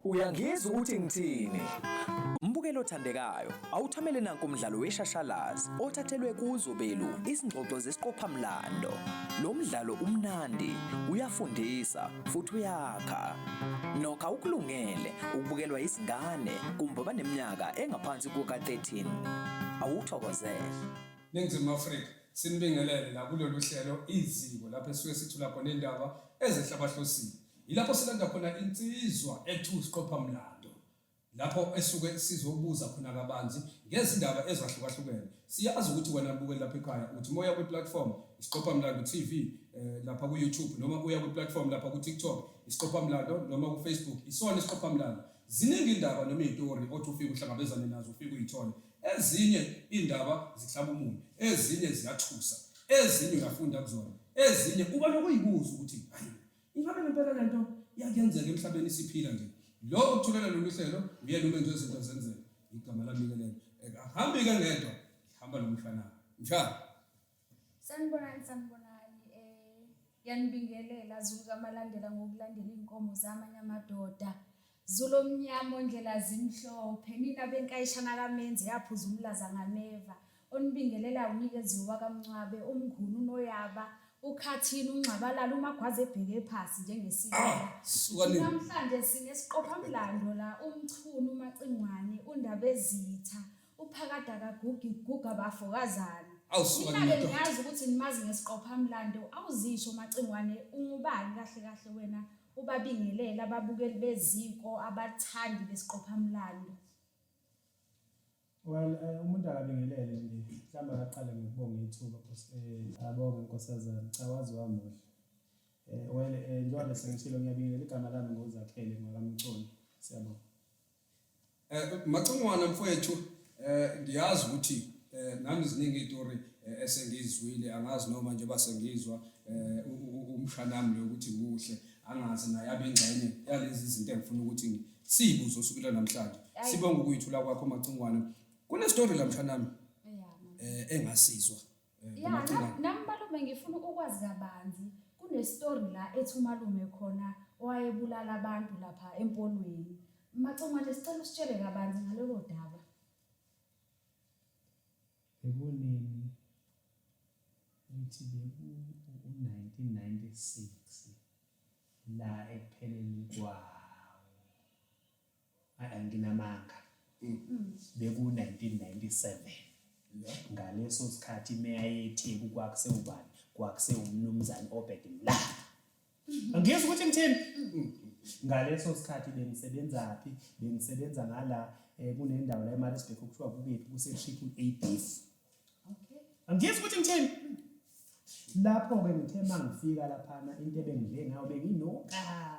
Uyangizwa ukuthi ngithini? Mbukelo othandekayo, awuthamele nanku umdlalo weshashalazi othathelwe kuzo belu izingxoxo zesiqophamlando. Lo mdlalo umnandi, uyafundisa futhi uyakha. Nokha ukulungele ukubukelwa izingane kumbe abaneminyaka engaphansi kuka-13. Awuthokozele. Ningizimu Afrika. Sinibingelele la kulolu hlelo iziko lapho esuke sithula khona indaba ezehla abahlosile. Yilapho silanda khona insizwa ethu siqopha mlando. Lapho esuke sizobuza khona kabanzi ngezindaba ezahlukahlukene. Siyazi ukuthi wena bukeli lapha ekhaya uthi moya kwi platform isiqopha mlando TV eh, lapha ku YouTube noma uya kwi platform lapha ku TikTok isiqopha mlando noma ku Facebook isona isiqopha mlando. Ziningi indaba noma izitori othi ufike uhlangabezane nazo ufike uyithole. Ezinye iy'ndaba zihlaba umunyu, ezinye ziyathusa, ezinye uyafunda kuzona, ezinye uba nokuyibuza ukuthi hayi ingabe ngempela le nto iyakuyenzeka emhlabeni siphila nje. Lo okuthulela lolu hlelo uyena umenzi wezinto zenzeka. Igama lami-ke lelo. Ahambi-ke ngedwa, ngihamba nomfana. Njalo. Sanibonani sanibonani eh yanibingelela Zulu kamalandela ngokulandela inkomo zamanye amadoda. Zulu omnyama ondlela zimhlophe nina benkayishana kamenzi yaphuza umlaza ngameva. Onibingelela unikezi wakamncwabe umngunu noyaba ukhathini ungxabalala umagwaze ebheke phasi njengesiko. Suka nini? Namhlanje sinesiqophamlando la umchunu umacingwane undabezitha uphakade akagugi guga bafo kazana awusuka Nina-ke ndoda niyazi ukuthi nimazi ngesiqophamlando awuzisho macingwane ungubani kahle kahle wena ubabingelela ababukeli beziko abathandi besiqophamlando well eh, umuntu akabingelele nje mhlawumbe akaqale ngokubonga ithuba Nkosi- eh, abonge nkosazana cha wazi wamuhle um well um njengoba besengishilo ngiyabingelela igama lami ngozakhele ngwakamconi siyabonga Eh macingwana mfowethu eh ngiyazi ukuthi eh nami ziningi itori eh, esengizwile angazi noma nje basengizwa eh umshanami lo ukuthi muhle angazi naye abengxenye yalezi zinto engifuna ukuthi siyibuzo sukela namhlanje sibonga ukuyithula kwakho macingwana kunestory la mshanami eh engasizwa Eh, ya na- nami malume ngifuna ukwazi kabanzi kunestori la ethi umalume khona owayebulala abantu lapha empolweni macongwane sicela usitshele kabanzi ngalelo daba Eboneni ngithi beku u-1996 la ekupheleni kwawo. Ay, nginamanga beku-1997 ngaleso sikhathi imeya yetheku kwakusewubani kwakusewumnumzane obed mla angiyezi ukuthi ngithini ngaleso sikhathi bengisebenzaphi bengisebenza ngala um kunendawo la emarisbek okuthiwa kukephi kusetriple a beef angiyezi ukuthi ngithini lapho-ke ngithe uma ngifika laphana into ebengidle ngayo benginokaa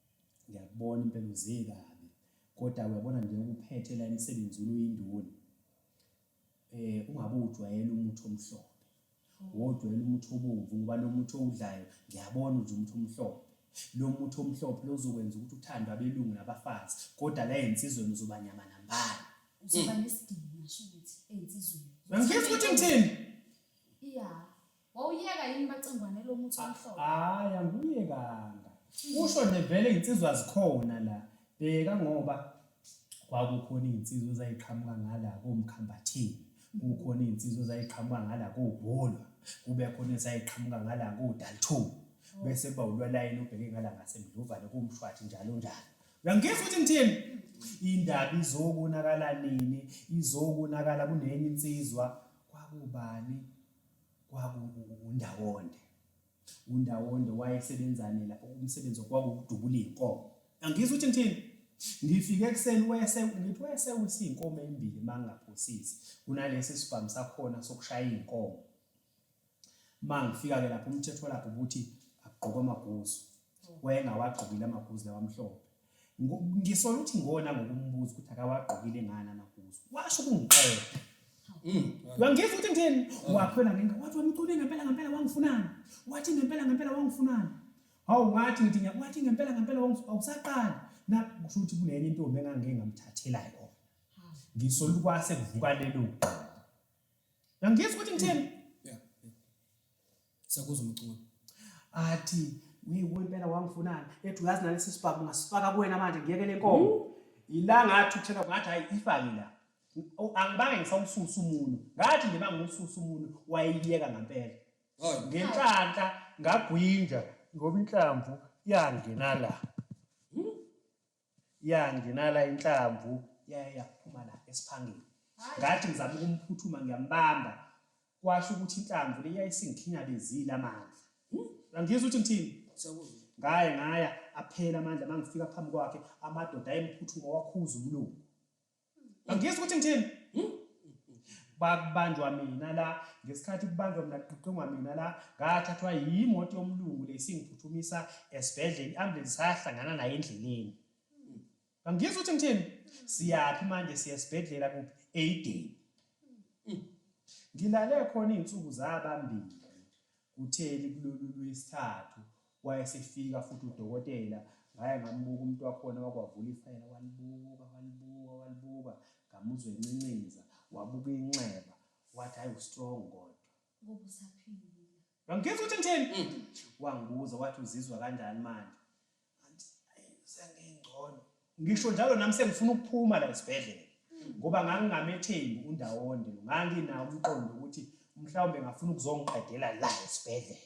ngiyakubona impela uze kabi kodwa uyabona nje ukuphethe la emsebenzini uyinduna eh ungabe ujwayele umuthi omhlophe wojwayele umuthi obomvu ngoba lo muthi owudlayo ngiyabona nje umuthi omhlophe lo muthi omhlophe lozokwenza ukuthi uthandwe abelungu nabafazi kodwa la ensizweni uzoba nyama nambala uzoba nesidingo ngisho ukuthi ensizweni ngifisa ukuthi ngithini iya Wawuyeka yini bacingwane lo muthi omhlophe? Hayi angiyekanga. Usho nje vele izinsizwa zikhona la. Bheka ngoba kwakukhona izinsizwa ezayiqhamuka ngala komkhambathini. Kukhona izinsizwa ezayiqhamuka ngala kobholwa. Kube khona ezayiqhamuka ngala kodalthu. Bese kuba ulwalayini obheke ngala ngasemdluvane kumshwathi njalo njalo. Uyangifisa ukuthi ngithini? Indaba izokonakala nini? Izokonakala kunenye insizwa kwakubani? kwakuwundawonde undawonde wayesebenzani lapho umsebenzi okwakuwudubula iy'nkomo angizwa ukuthi ngithini ngifike ekuseni wese ngithi wese usiy'nkomo ey'mbili uma ngingaphosisi kunalesi sibhamu sakhona sokushaya iy'nkomo uma ngifika-ke lapho umthetho lapho ukuthi agqoke amaguzu wayengawagqokile amaguzu lawa amhlophe ngisola ukuthi ngona ngokumbuza ukuthi akawagqokile ngani amaguzu washo ukungiqeda mm. wangizwa ukuthi ngitheni mm. wakhwela ngenga wathi wamcule ngempela ngempela wangifunani wathi ngempela ngempela wangifunani hawu ngathi ngithi wathi ngempela ngempela awusaqali na kusho ukuthi kunenye intombi engangike ngamthathela yona ngisola ukwase kuvuka lelo ngizwa ukuthi ngitheni Siyakuza umculo. Athi wewe impela wangifunana. Ethi uyazi nalesi sibhamu ngasifaka kuwena manje ngiyeke lenkomo. Hmm? Ilanga athi uthena ngathi hayi ifake la. Angibange ngisawususa umuntu. Ngathi nje mangiwususa umuntu wayeyeka ngempela. Hayi ngenhlanhla ngagwinja ngoba inhlamvu yangena la. yangena la inhlamvu yaye yaphuma la esiphangeni ngathi ngizama ukumphuthuma ngiyambamba kwasho ukuthi inhlamvu le yayisingikhinyabezile amandla angizwa ukuthi ngithini ngaye ngaya aphela amandla mangifika phambi kwakhe amadoda ayemphuthuma wakhuza umlungu Angiyizwa ukuthi ngithini. Hmm? Bakubanjwa mina la ngesikhathi kubanjwa mina kuqoqongwa mina la ngathathwa yimoto yomlungu lesingiphuthumisa esibhedlela iambulance sayahlangana naye endleleni. Hmm. Angiyizwa ukuthi ngithini. Siyaphi manje siya esibhedlela kuphi? Aiden. Hmm. Ngilale khona izinsuku zabambili kutheli kulolu lwesithathu. Wayesefika futhi udokotela, ngaya ngambuka umuntu wakhona wakwavula ifayela walibuka, walibuka, walibuka, ngamuzwa encincinza, wabuka inxeba, wathi hhayi ustrong kodwa. Ngoba usaphilile. Ngangikhetha ukuthi ngithini? Mm. Wangibuza wathi uzizwa kanjani manje? Ngathi, ayi sengingcono. Ngisho njalo nami sengifuna ukuphuma la esibhedlela ngoba ngangingamethembi uNdawonde lo. Nganginawo umqondo ukuthi mhlawumbe ngafuna ukuzongiqedela la esibhedlela.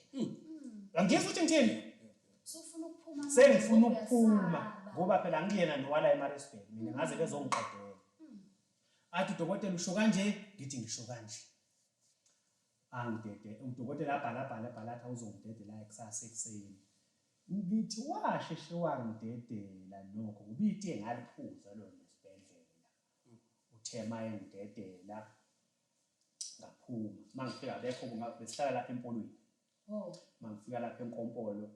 Angizwa ukuthi ngithini? Sufuna ukuphuma. Sengifuna ukuphuma ngoba phela ngiyena nowala eMaritzburg mina ngaze bezongiqedela. Athi udokotela usho kanje, ngithi ngisho kanje. Angidede, udokotela abhala abhala abhala athi awuzongidedela kusasa ekuseni. Ngithi washeshe wangidedela nokho ubitiye ngaliphuza lona esibhedlela. Uthe uma engidedela ngaphuma. Uma ngifika abekho besihlala lapha empolweni. Oh. Uma ngifika lapha enkompolo,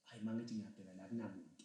hhayi uma ngithi ngiyabheka la kunamuntu.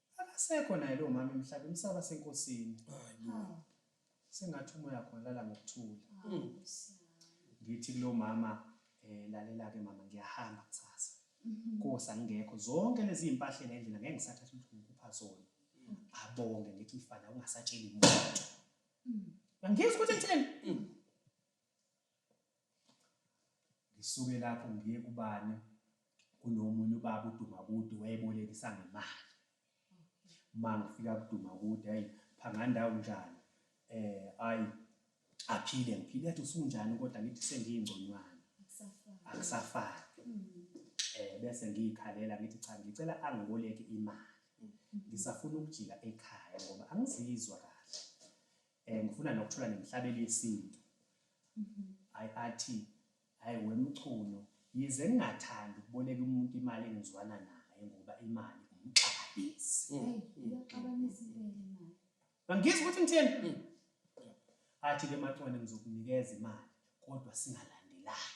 Akasekho naye lo mama emhlabeni saba senkosini. Sengathi umoya khona lala ngokuthula. Ngithi kulo mama eh lalela ke mama ngiyahamba kusasa. Nkosi angekho zonke lezi impahla la endlini ngeke ngisathatha ukuthi ngikupha zona. Abonge ngithi mfana ungasatsheli muntu. Ngiyizwa ukuthi ngithini? ngisuke lapho ngiye kubani kunomunye ubaba udumakude wayebolekisa ngemali uma ngifika kudumakude hayi phangandawo njani eh ayi aphile ngiphile athi usunjani kodwa ngithi sengiyingconywana akusafani hmm. eh bese ngiyikhalela ngithi cha ngicela angiboleke imali hmm. ngisafuna ukujika ekhaya ngoba angizizwa kahle um ngifuna nokuthola nemhlabelo yesintu hayi mhm. athi hayi wemchunu yize ngingathandi ukuboleka umuntu imali engizwana naye ngoba imali umxabanisi mm, mm, mm. angizwa ukuthi ngitheni athi-ke macwane ngizokunikeza imali kodwa singalandelani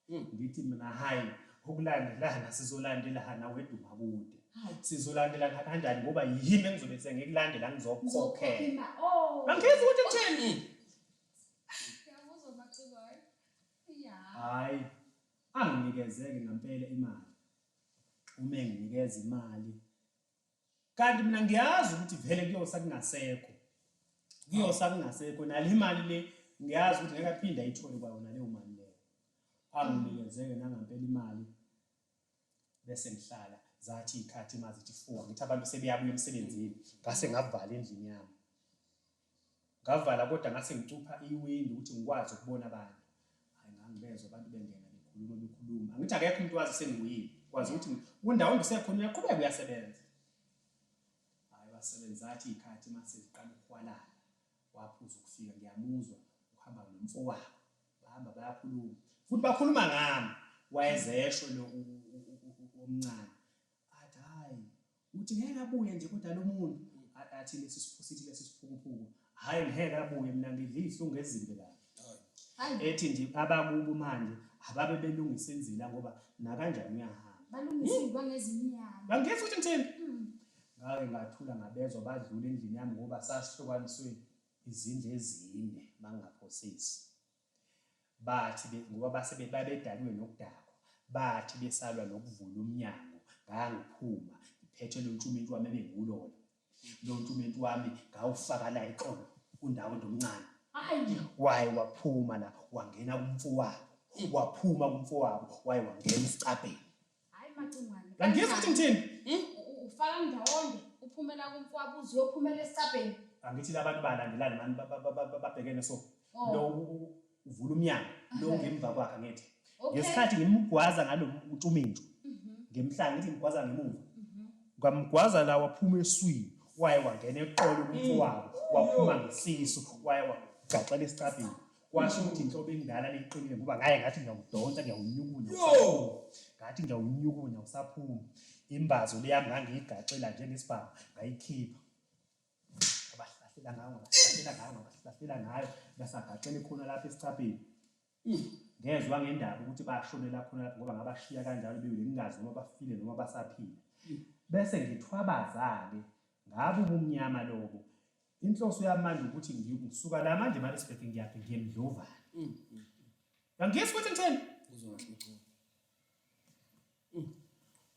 Ey ngithi mina hay ukulandelana sizolandelana wedwa makude. Sizolandelana kanjani ngoba yimi engizobe sengikulandela ngizokukhokhela. Oh. Angizwa ukuthi kutheni. Ngiyakuzwa Macikwayo. Yeah. Hayi. Anginikezeke ngempela imali. Uma enginikeza imali kanti mina ngiyazi ukuthi vele kuyosa kungasekho kuyosa kungasekho nale imali le ngiyazi ukuthi ngeke aphinde ayithole kwayona leyo mali leyo anginikeze-ke nangampela imali bese ngihlala zathi iy'khathi mazithi four ngithi abantu sebeyabuya emsebenzini ngase ngavala endlini yami Ngavala kodwa ngase ngicupha iwindi ukuthi ngikwazi ukubona abantu. Hayi ngangibezwa abantu bengena bekhuluma bekhuluma. Angithi akekho umuntu wazi sengiyile. Kwazi ukuthi kundawo ngisekhona uyaqhubeka uyasebenza. Hayi wasebenza athi ikhathi mase ziqala ukuhwalala. Waphuza ukufika ngiyamuzwa uhamba nomfowabo. Bahamba bayakhuluma. Futhi bakhuluma ngami wayezesho lo omncane. Athi hhayi, uthi ngeke abuye nje kodwa lo muntu? Athi lesi siphusiti lesi siphukuphuku, hhayi ngeke abuye, mina ngidla izihlungu ezimbi kabi. Ethi nje abakubo manje ababe belungisa inzila ngoba nakanjani uyahamba. Balungisilwa ngezinyanga. Bangifisa ukuthi ngithini? Mm. Ngake ngathula ngabezwa badlula endlini yami ngoba sasihlukaniswe izindlu ezine, bangaphosisi. Bathi be, ngoba base be, babedalwe nokudakwa, bathi besalwa nokuvula umnyango, ngangiphuma, ngiphethe lo ntshuminti wami ebengiwulona. Lo ntshuminti wami ngawufaka la eqolo, kundawo ndomncane. Ayi! Waye waphuma la, wangena kumfowabo. Waphuma kumfowabo, waye wangena esicabheni. Hayi Macingwane. Kanti ngizwa ukuthi ngithini? Hmm? Ufaka ndawonye uphumela kumfwabo uzophumela esicabheni. Angithi labantu balandelani mani babhekene so. Oh. Lo uvula umnyango lo ngemva kwakhe ngithi. Ngesikhathi ngimgwaza ngalo utumintshu. Mhm. Ngemhlanje ngithi ngimgwaza ngemuva. Mhm. Ngamgwaza la waphuma eswini waye wangena eqolo kumfowabo mm. waphuma ngesisu waye wagaxela esicabheni. kwasho ukuthi inhlobo endala liqinile ngoba ngaye ngathi ngiyawudonsa ngiyawunyukunya ngathi ngiyawunyukunya usaphuma imbazo leyami ngangiyigaxela njengesibhamu ngayikhipha abahlahlela ngayo ngabahlahlela ngayo ngabahlahlela ngayo basagaxele khona lapha esicapheni hmm. ngezwa ngendaba ukuthi bashonela khona lapho ngoba ngabashiya kanjalo bewile ngingazi noma bafile noma basaphila hmm. bese ngithwabaza-ke ngabe ubumnyama lobo inhloso yamanje ukuthi ngisuka la manje eMaritzburg ngiyaphi ngiye eMdlovane mm, mm, yangizwa ukuthi ngitheni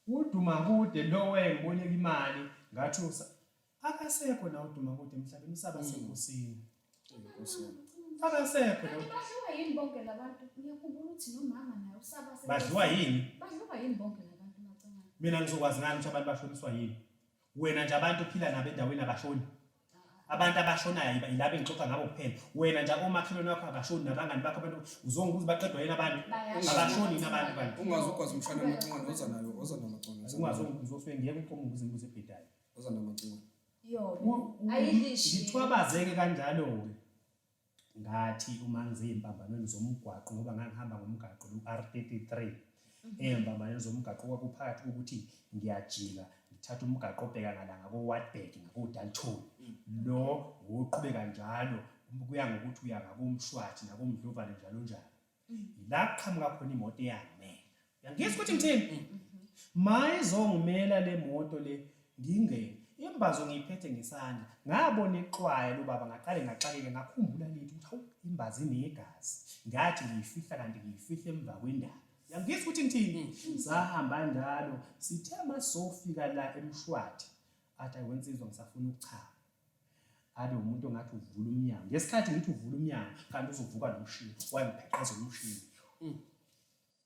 uduma kude lowe ngiboleka imali ngathi akasekho na uduma kude emhlabeni usaba senkosini akasekho lo badliwa yini bonke labantu ngiyakhumbula ukuthi nomama naye usaba badliwa yini badliwa yini bonke labantu macangana mina ngizokwazi ngani ukuthi abantu bashoniswa yini wena nje abantu uphila nabo endaweni abashoni abantu abashonayo yilaba engixoxa ngabo kuphela wena nje omakhelwane wakho abashoni nabangani bakho abantu uzonga ukuthi baqedwa yini abantu abashoni yini abantu kanti ungazi ukwazi umshwana amacingwane oza nayo oza namacingwane ungazi uzoswe ngeke uqoma ukuze imbuzo ebhedayo oza namacingwane yo ayilishi ngithwabazeke kanjalo-ke ngathi uma ngizeyimpambanweni zomgwaqo ngoba ngangihamba ngomgaqo lu-R33 mhm. eyimpambanweni zomgaqo kwakuphakathi kokuthi ngiyajika ngithatha umgaqo obheka ngala ngako-Wartburg ngako-Dalton mm. lo woqhubeka njalo kuya ngokuthi uya ngakomshwathi nakomdlovane njalo njalo la kuqhamuka khona imoto eyangimela yangizwa ukuthi ngithini mayizongimela le moto le ngingeni imbazo ngiyiphethe ngesandla ngabona ixwaya lobaba ngaqale ngaxakeke ngakhumbula lithi ukuthi hawu imbazi inegazi ngathi ngiyifihla kanti ngiyifihla emva kwendaba yangizwa ukuthi ngithini sahamba njalo sithe masofika la emshwathi athi ayiwensizwa ngisafuna ukuchama abe umuntu ongathi uvula umnyango ngesikhathi ngithi uvula umnyango kanti uzovuka nomshini wayengipheqeza umshini mm.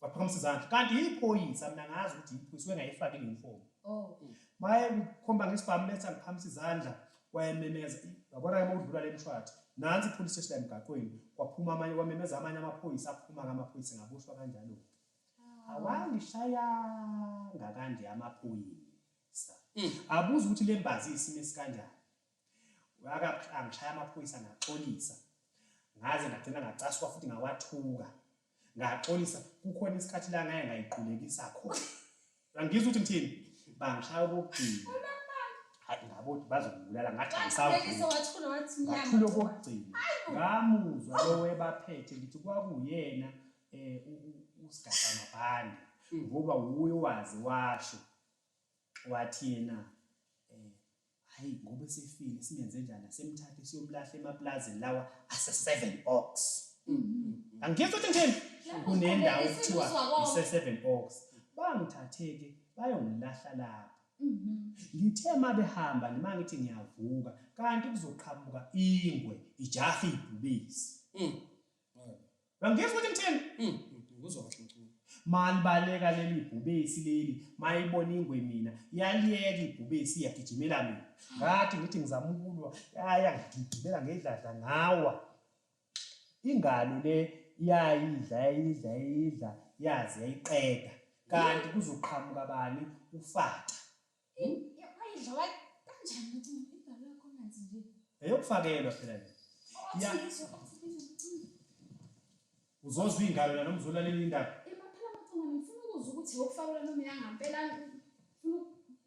waphakamisa izandla kanti yiphoyisa mina ngazi ukuthi yiphoyisa wengayifaki leyunifomu oh. maye ngikhomba ngesibhamu letha ngiphakamisa izandla wayememeza yabona ke mawudlula le mshwathi nansi ipholisi station emgaqweni kwaphuma amanye kwamemeza amanye amaphoyisa aphuma ngamaphoyisa ngaboshwa kanjalo-ke ah. awangishayanga kanje amaphoyisa Mm. Abuza ukuthi le mbazi isimo esikanjani. Angishaya amaphoyisa ngaxolisa. Ngaze ngagcina ngacaswa futhi ngawathuka. Ngaxolisa kukhona isikhathi la ngaye ngayiqulekisa khona. Angizwa ukuthi ngithini? Bangishaya okugcina. Hayi ngabo ukuthi bazongibulala ngathi angisavumi. Ngathula okugcina. Ngamuzwa lo webaphethe ngithi kwakuyena eh usigaxa mabhande mm. ngoba wuye wazi washo. wathi yena eh hayi ngoba esefile singenze njani asemthathe siyomlahla emaplazini lawa ase 7 ox mm-hmm. angiyizwa ukuthi ngithini kunendawo kuthiwa ise 7 ox bangithatheke bayongilahla lapho mm-hmm. ngithe uma behamba nima ngithi ngiyavuka kanti kuzoqhamuka ingwe ijaha ibhubisi mm. Ngangizwa ukuthi ngithini? Mm, mm, ngizwa kahle ngicula. Malibaleka leli bhubesi leli, mayibona ingwe mina, yaliyeka ibhubesi yagijimela mina. Ngathi ngithi ngizama ukulwa, yaya ngigijimela ngedladla ngawa. Ingalo le yayidla yayidla yayidla yaze yayiqeda. Kanti kuzoqhamuka bani? Ufaca. eyokufakelwa phela le uzozwa iy'ngalo la noma uzolalela indaba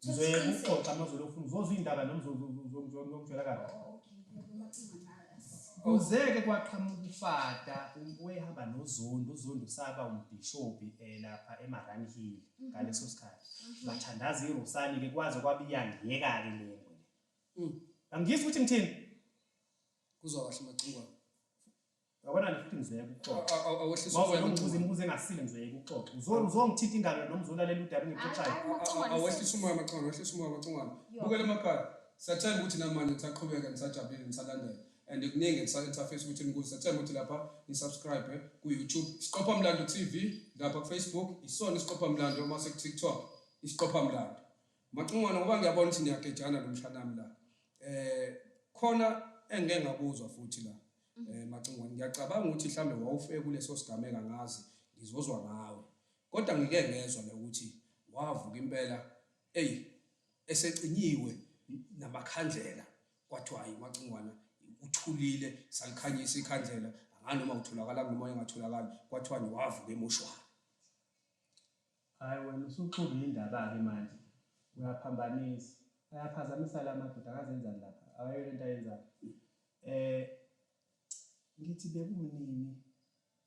ngizoyekuxoxa amazolo ofuna uzozwa iy'ndaba noma uzongitshela kabi kuzeke kwaqhamuka ufada wayehamba nozondo uzondo saba umbhishobhi um lapha emaranhile ngaleso sikhathi mhm. bathandaza irosali ke kwaze kwabiyangiyeka ke le ngwe mm. angiyizwa ukuthi ngithini kuzwa kahle macingwane yabona nje futhi ngizeye kuxoxa awehliswa umbuzo imibuzo engasile ngizeye kuxoxa uzona uzongithinta ingalo noma uzolalela udaba engixoxayo awehliswa umoya macingwane awehliswa umoya macingwane bukela emakhaya siyathanda ukuthi namanje nisaqhubeka nisajabulile nisalandela and kuningi engisake ngisafisa ukuthi nikuze sethemba ukuthi lapha nisubscribe ku-youtube isiqopha mlando tv lapha kufacebook isona isiqopha mlando uma sekutiktok isiqopha mlando macingwana ngoba ngiyabona ukuthi niyagejana lo mshanami la um khona engike ngakuzwa futhi la um macingwane ngiyacabanga ukuthi mhlawumbe wawufeke kuleso sigameka ngazi ngizozwa ngawe kodwa ngike ngezwa le ukuthi wavuka impela eyi esecinyiwe namakhandlela Kwathiwa hayi uMacingwana uthulile salikhanyisa ikhandlela anganoma utholakala noma engatholakali kwathiwa niwavuke emoshwari. Hayi wena usuxubile indaba-ke manje uyaphambanisa ayaphazamisa la madoda akazenzani lapha akayona into ayenzayo um ngithi bekunini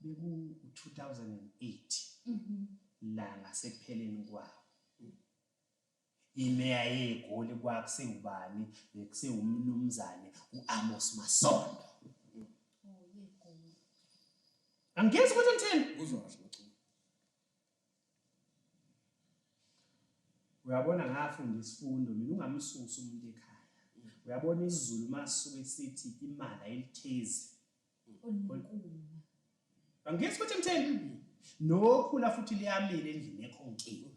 beku-2008 mhm. la ngasekupheleni kwawo Imeya yeGoli kwakusewubani? Bekusewumnumzane u-Amos Masondo. Angezi ukuthi ngithini? Uzosho ukuthi uyabona ngafunda isifundo mina ungamsusi umuntu ekhaya. Uyabona isiZulu masuke sithi imali ayilithezi. Angiyisi ukuthi ngitheni nokhula futhi liyamile endlini ekho nkinga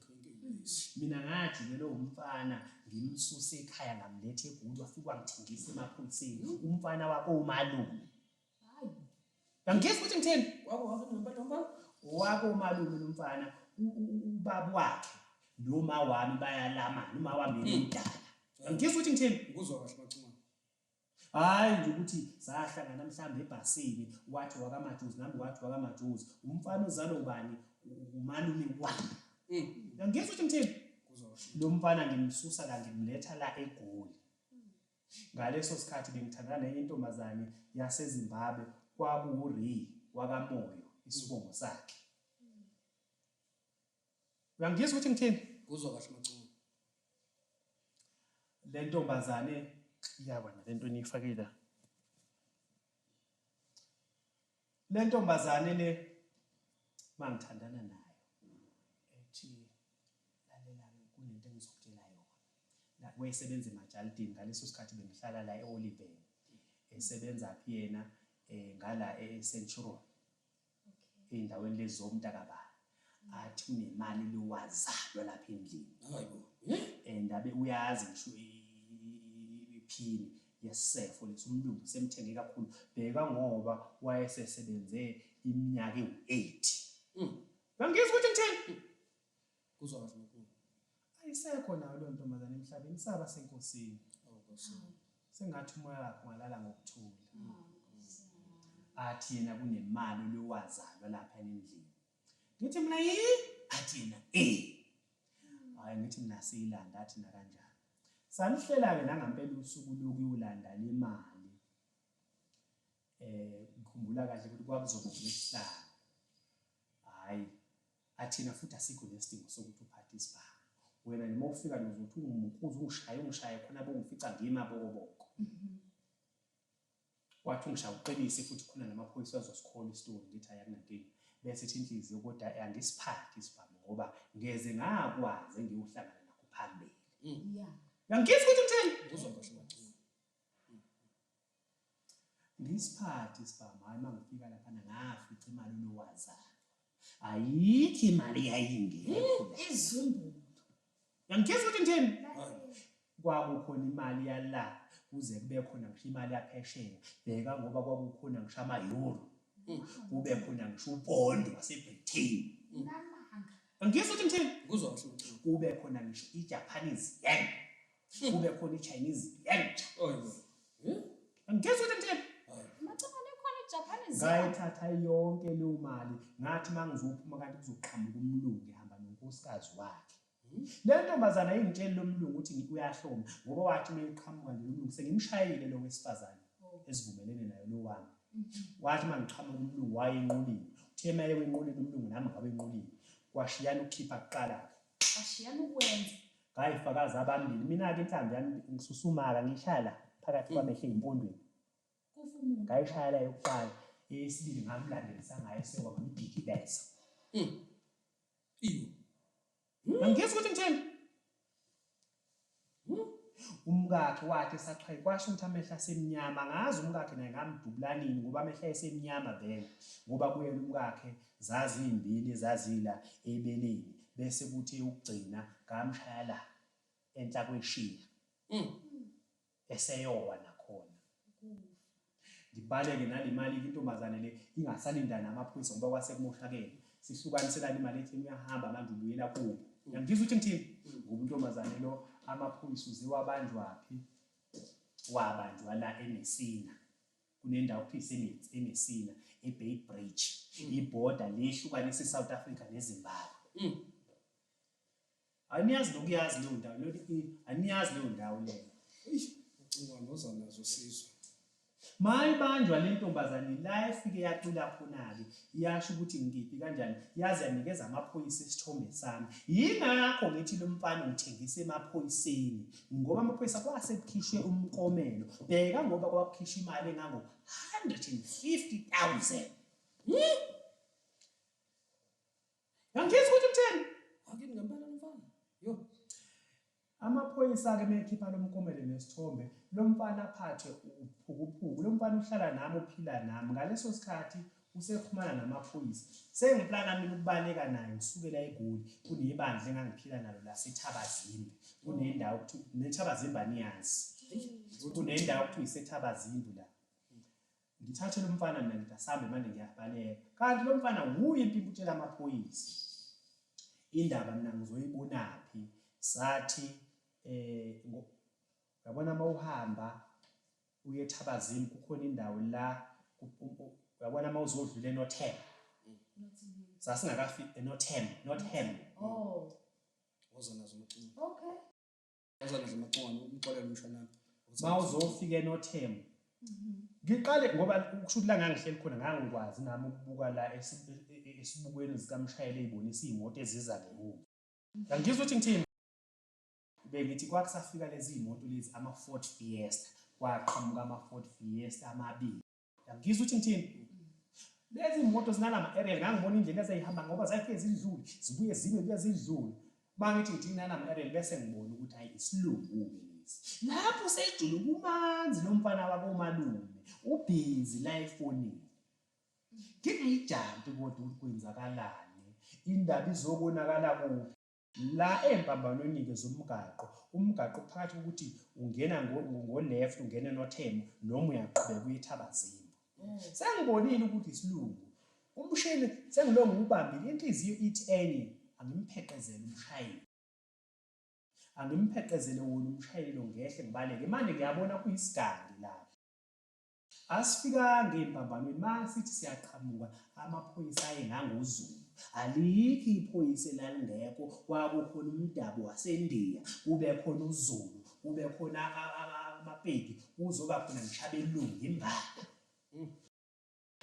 mina ngajikelwe umfana ngimsuse ekhaya ngamletha egulu wafike wangithengisa emaphoyiseni umfana wakho umalume angiyisi ukuthi ngitheni wako umalume lomfana ubaba wakhe noma wami bayalamana uma wami mm. umdala angiyisi ukuthi ngitheni ngikuzwa kahle macuma Hhayi nje ukuthi sahlangana mhlawumbe ebhasini wathi wakamajuzi nami wathi wakamajuzi umfana uzalwa ubani umalume wami mm. ngizwa ukuthi ngithini lo mfana ngimsusa la ngimletha la egoli ngaleso sikhathi bengithandana nenye intombazane yasezimbabwe kwakuwuri wakamoyo isibongo sakhe uyangizwa ukuthi ngithini kuzwa kahle maculo le ntombazane iyabona le nto eniyifakile le ntombazane le mangithandana nayo ethi lalelani kunento engizokutshela yona wayesebenza emajalidini ngaleso sikhathi bengihlala la e-oliven esebenza phi yena um ngala e-centuron eyindaweni lezi zomntakabani athi unemali lowazalwa lapha endlini hayibo and abe uyazi ngisho iphini yesefo lesumlungu semthenge kakhulu bheka ngoba wayesesebenze iminyaka ewu-8 mm. bangizwa ukuthi ngithini Kuzwakala uNkulunkulu. Ayisekho nayo leyo ntombazane emhlabeni isaba senkosini. Oh Nkosi. yami. Sengathi umoya wakhe ungalala ngokuthula. Athi yena kunemali olowazalwa lapha endlini. Ngithi mina yi athi yena eh. Hayi ngithi mina siyilanda athi na kanjani. Salihlela ke nangampela usuku lokuyolanda le mali. Eh ngikhumbula kahle ukuthi kwakuzokuhlala. Hayi Ay thina futhi asikho nesidingo sokuthi uphathe isibhamu. Wena noma ufika nje uzothi ungimukhuze ungishaye ungishaye khona bongifica ngima abokoboko. Mhm. Wathi ungishaya uqinise futhi khona namaphoyisa azosikhola isitori ngithi ay akunankinga. Bese ithi inhliziyo kodwa angisiphathi isibhamu ngoba ngeze ngakwazi engiyohlangana nakho phambili. Mm. Yeah. Uyangifisa ukuthi ngithini? Uzwa kahle wacula. Ngisiphathe isibhamu hayi mangifika laphana ngafica imali unowazana. Ayikho imali yayingekho. Izumbulu. Yangitshela ukuthi ngithini? Kwakukhona imali yala kuze kube khona ngisho imali yaphesheya. Bheka ngoba kwakukhona ngisho ama-euro. Mm. Kube khona ngisho upond waseBritain. Namanga. Yangitshela ukuthi ngithini? Kuzwa ngisho. Kube khona ngisho i-Japanese yen. kube khona iChinese yenja angithethe ukuthi ngithini ngayithatha yonke leyo mali ngathi uma ngizophuma kanti kuzoqhamuka umlungu ehamba nonkosikazi wakhe hmm? le ntombazana ingitsheli lo mlungu ukuthi uyahloma ngoba wathi uma eqhamuka nje lo mlungu sengimshayile lo wesifazane oh. esivumelene nayo lo wami hmm. wathi uma ngiqhamuka umlungu wayenqulile uthe uma ewenqulile umlungu nami ngawenqulile kwashiyana ukukhipha kuqala-ke Ashiyana ukwenza. Hayi fakazi abambili mina-ke inhlambi yami ngisusumaka ngiyishaya la phakathi kwamehle empondweni ngayishaya la yokuqala eyesibili ngamlandelisa ngayo sekwaba ngidikibeza hmm. angizwa ukuthi ngithini Umkakhe wathi esaqhayi kwasho ukuthi amehlo asemnyama angazi umkakhe naye ngamdubulanini ngoba amehlo ayesemnyama vele ngoba kuyena umkakhe zaziyimbili ezazila ebeleni bese kuthi ukugcina ngamshaya la enhla kweshiya mm. eseyowa nakhona ukufa. Ngibaleke nale mali intombazane le ingasalinda namaphoyisa ngoba kwase kumoshakele. Sihlukaniselane imali ethi uyahamba manje ubuyela kubo. Mm. Yangizwa ukuthi ngithini? Mm. Ngoba intombazane lo amaphoyisa uziwabanjwaphi? Wabanjwa la eMessina. Kunendawo kuthiwa iseMessina, eBay Bridge. Mm. Ibhoda lehlukanisa iSouth Africa neZimbabwe. Aniyazi nokuyazi leyo ndawo leyo i aniyazi leyo ndawo leyo. Eish ucinga ngoza nazo sizwe. Mayibanjwa le ntombazane la efike yacula khona-ke yasho ukuthi ngikiphi kanjani yaze yanikeza amaphoyisa isithombe sami. Yingakho ngithi lo mfana ngithengise emaphoyiseni ngoba amaphoyisa kwase kukhishwe umkomelo. Bheka ngoba kwakukhishwa imali engango-150,000. Hmm? Yangifisa ukuthi uthini? Angini ngempela lomfana. Yo. Amaphoyisa-ke mekhipha lo mkomele nesithombe, lo mfana aphathwe uphukuphuku. Lo mfana uhlala nami, uphila nami. Ngaleso sikhathi usexhumana namaphoyisa. Sengiplana mina ukubaleka naye ngisukela eGoli. Kunebandla engangiphila nalo laseThabazimbi. Kunendawo okuthiwa neThabazimbi aniyazi. Kunendawo okuthiwa iseThabazimbi la. Ngithathe lomfana mina ngithi asambe manje ngiyabaleka. Kanti lomfana wuye impimpi utshela amaphoyisa. Indaba mina ngizoyibonaphi? Sathi eh yabona mawuhamba uye ethabazini kukhona indawo la yabona mawuzodlula enothel. Sasingakafiki enothel, not hem. Oh. Wozona zomcimbi. Okay. bawuzofika enothemba ngiqale ngoba kusho ukuthi la ngangihleli khona ngangikwazi nami ukubuka la e, e, esibukweni zikamshayeli eyibonisa iy'moto eziza ngemuva angizwa ukuthi ngithini bengithi kwakusafika lezi iy'moto lezi ama-ford fiesta kwaqhamuka ama-ford fiesta amabili Ngizwe ukuthi ngithini. Lezi moto zinalama aerial ngangibona indlela ezayihamba ngoba zayifike zidlule zibuye zibe kuya zidlule. Bangithi ngithi nalama aerial bese ngibona ukuthi hayi isilungu ke lesi. Lapho sejule kumanzi lomfana wabo malume ubhizi la efonini. Ngingayijampi kodwa ukuthi kwenzakalani indaba izokonakala kuphi. La ezimpambanweni-ke zomgaqo, umgaqo uphakathi kokuthi ungena ngo-left ungena eNothemo noma uyaqhubeka uye eThabazimba. Sengibonile ukuthi isilungu umshini sengilo ngiwubambile inhliziyo ithi enye angimpheqezele umshayeli angimpheqezele wona umshayeli lo ngehle ngibaleke manje ngiyabona kuyisigangi lapho Asifikanga ey'mpambanweni masithi siyaqhamuka amaphoyisa ayengangozulu. Alikho iphoyisa elalingekho kwakukhona umdabu waseNdiya, kube khona uZulu, kube khona amaPedi, kuzoba khona ngisho abelungu imbala.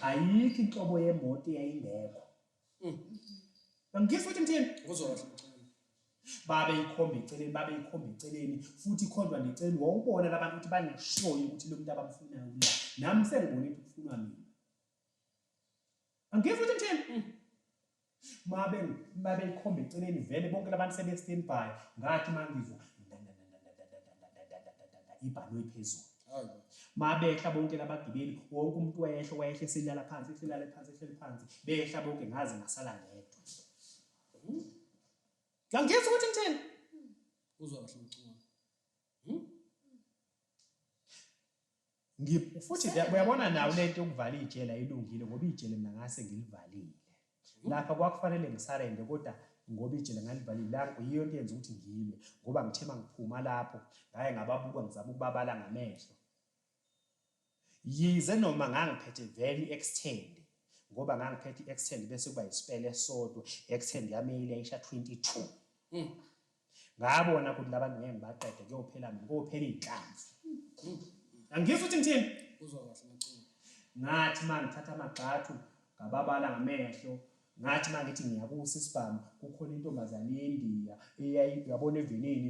Ayikho inhlobo yemoto eyayingekho Mm. Bamkhifa uthi ngithini? Uzodla. Babe ikhombe eceleni, babe ikhombe eceleni futhi ikhondwa neceleni. Wawubona labantu ukuthi baneshoyi ukuthi lo muntu abamfunayo kula. Nami sengibone ukuthi kufunwa mina. Bamkhifa uthi ngithini? Mm. Mabe mabe ikhombe eceleni vele bonke labantu sebe standby ngathi mangizwa ibhanoyi phezulu. mabehla bonke labagibeli wonke umuntu wayehla wayehla eselala phansi ehlelala phansi ehleli phansi behla bonke ngaze ngasala ngedwa hmm? ngangiyeza ukuthi ngithini uzwa kahle umculo hmm? futhi uyabona nawo lento yokuvala ijele ayilungile ngoba ijele mina ngase ngilivalile Lapha kwakufanele ngisarende kodwa ngoba ijele ngalivalile langu yiyo into eyenza ukuthi ngilwe ngoba ngithe uma ngiphuma lapho ngaye ngababuka ngizama ukubabala ngamehlo yize noma ngangiphethe vele i-extend ngoba ngangiphethe i-extend bese kuba yisipele esodwa i-extend yami eyile ayisha 22 mm. Ngabona ukuthi labantu ngeke ngibaqede kuyophela mina kophela izinhlanzi. Angizwa ukuthi ngithini? Uzwa kahle maculo. Ngathi manje thatha amagxathu ngababala ngamehlo ngathi mangithi ngiyakusa isibhamu kukhona intombazane yeNdiya eyayiyabona evenini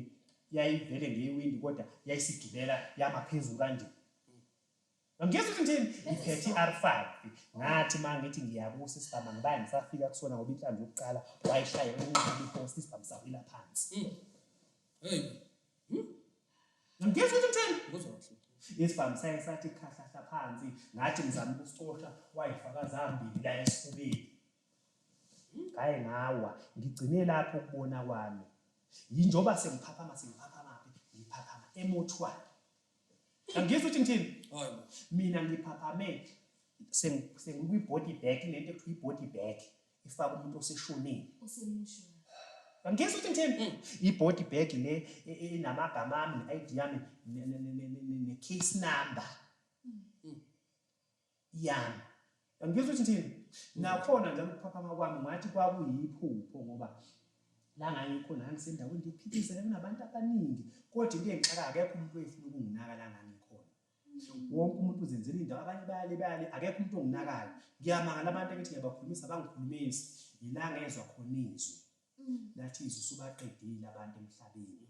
yayivele ngewindi kodwa yayisigibela yama phezulu kanje Ngiyeza ukuthi ngithini? Ngiphethe i-R5. Ngathi uma ngithi ngiyakusa isibhamu angibaye ngisafika kusona ngoba inhlamvu yokuqala wayishaye unqaba ipost isibhamu sawila phansi. Hmm. Hey. Hmm? Ngiyeza ukuthi ngithini? Ngizwa kahle. Isibhamu saye sathi khahlahla phansi ngathi ngizama ukusicosha wayifaka zambili la esifubeni. Hmm? Ngaye ngawa ngigcine lapho ukubona kwami. Yinjoba sengiphaphama sengiphaphama phi? Ngiphaphama emothwala. angizwa ukuthi ngithini mina ngiphaphame sengikwi-body bag lento ekuthiwa i-body bag ifaka umuntu oseshonile angizwa ukuthi ngithini mm. i-body bag le e, e, enamagama ami ne-id yami ne-case number mm. yami. Yangizwa ukuthi ngithini? Mm. Nakhona njalo ukuphaphama kwami ngathi kwakuyiphupho ngoba la ngangikhona ngangisendaweni ngiphithizele kunabantu abaningi kodwa into engixaka akekho umuntu oyefuna ukunginaka la ngangikhona. Mm. Wonke umuntu uzenzela indawo abanye bayale bayale akekho umuntu onginakayo. Ngiyamangala abantu engithi ngiyabakhulumisa bangikhulumisi yila ngezwa khona izwi. Mm. Lathi izwi usubaqedile abantu emhlabeni.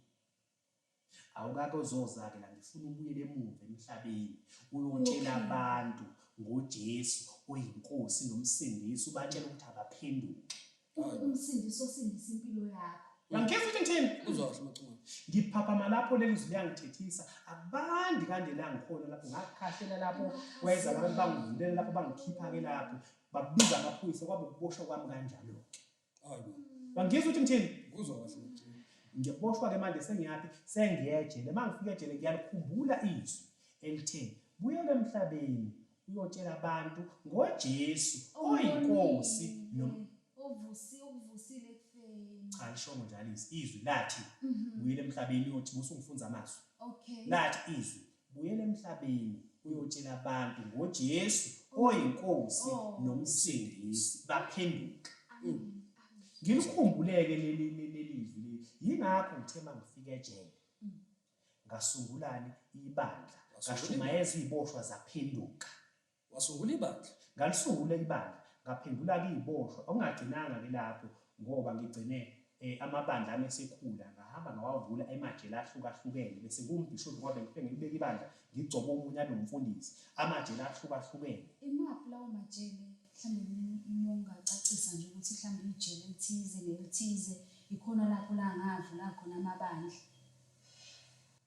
Awukake uzozake la ngifuna ubuyele emuva emhlabeni uyotshela abantu ngoJesu oyinkosi nomsindisi ubatshela ukuthi abaphenduke. Umsindisi osindisa impilo yakho. Uyangikhetha ukuthi ngithini? Uzosho uMcunga. Ngiphaphama lapho leli zwi liyangithethisa. Abandi kanje la ngikhona lapho ngakhahlela lapho wayeza abantu bangivulela lapho bangikhipha ke lapho babiza amaphoyisa kwabe ukuboshwa kwami kanjalo ke. Bangizwa ukuthi ngithini? Kuzwa kahle ukuthi ngiyaboshwa ke manje sengiyaphi sengiyejele uma ngifika ejele ngiyalikhumbula izwi elithe buyela emhlabeni uyotshela abantu ngoJesu oyinkosi ovusi ukuvusile kufeni cha lishongo njalo izwi lathi mhm. buyela emhlabeni uyothi musu ngifunza amazwi okay lathi izwi Buyela emhlabeni uyotshela abantu ngoJesu oyiNkosi noMsindisi baphenduka. Ngilikhumbuleke leli lelizwi leli. Yingakho ngithe mangifika ejele. Ngasungulani ibandla. Ngashumayeza iziboshwa zaphenduka. Wasungula ibandla. Ngalisungula ibandla, ngaphendula-ke iziboshwa. Okungagcinanga-ke lapho, ngoba ngigcine amabandla ami esekhula, ngahamba ngawavula emajele ahlukahlukene, bese ngiwumbhishobhi kwabe ngiphinde ngilibeke ibandla, ngigcobe omunye abe umfundisi. Amajele ahlukahlukene. Imaphi lawo majele? Mhlawumbe uma ungacacisa nje ukuthi mhlawumbe ijele elithize nelithize, ikhona lapho la ngavula khona amabandla.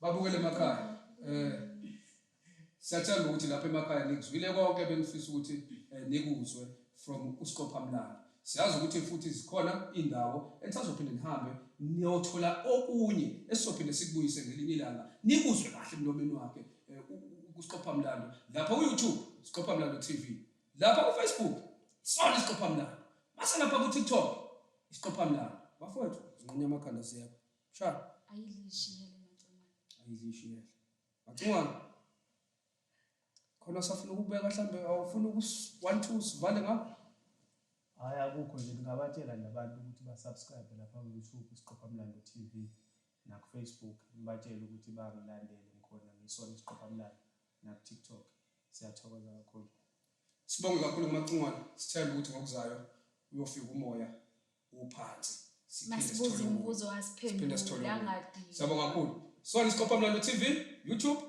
Babukele emakhaya. Eh siyathemba ukuthi lapha emakhaya nikuzwile konke benifisa ukuthi eh, nikuzwe from usiqophamlando. Siyazi ukuthi futhi zikhona indawo enisazophinde nihambe niyothola okunye esizophinde sikubuyise ngelinye ilanga. Nikuzwe kahle emlomeni wakhe eh, usiqophamlando. Lapha ku YouTube siqophamlando TV. Lapha ku Facebook sona isiqophamlando. Mase lapha ku TikTok isiqophamlando. Bafowethu zinqonya amakhanda siyapha. Sha. Ayilishiyele macongwane. Ayilishiyele. Macongwane. Khona safuna ukubeka mhlambe awufuna uku 1 2 sivale ngapha. Hayi akukho nje ngingabatshela nje abantu ukuthi ba subscribe lapha ku YouTube isiqopha mlando TV na ku Facebook ngibatshela ukuthi bangilandele ngikhona ngisona isiqopha mlando na ku TikTok siyathokoza kakhulu. Sibonge kakhulu kumacingwane sithemba ukuthi ngokuzayo uyofika umoya uphansi masibuza imibuzo asiphendule siyabonga kakhulu so isiqopha mlando tv youtube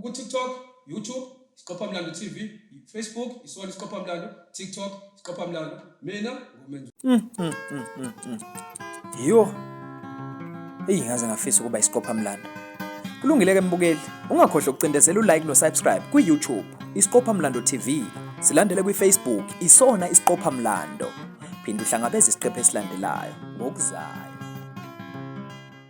ku-tiktok youtube isiqopha mlando tv facebook isona isiqopha mlando tiktok isiqopha mlando mina ngumenzi mm, mm, mm, yo eyi ngaze ngafisa ukuba isiqopha mlando Kulungile ke mbukeli, ungakhohlwa ukucindezela u-like no-subscribe kwi-YouTube Isiqopha Mlando TV. Silandele kwi-Facebook isona Isiqopha Mlando. Phinde uhlangabeze isiqephu esilandelayo ngokuzayo.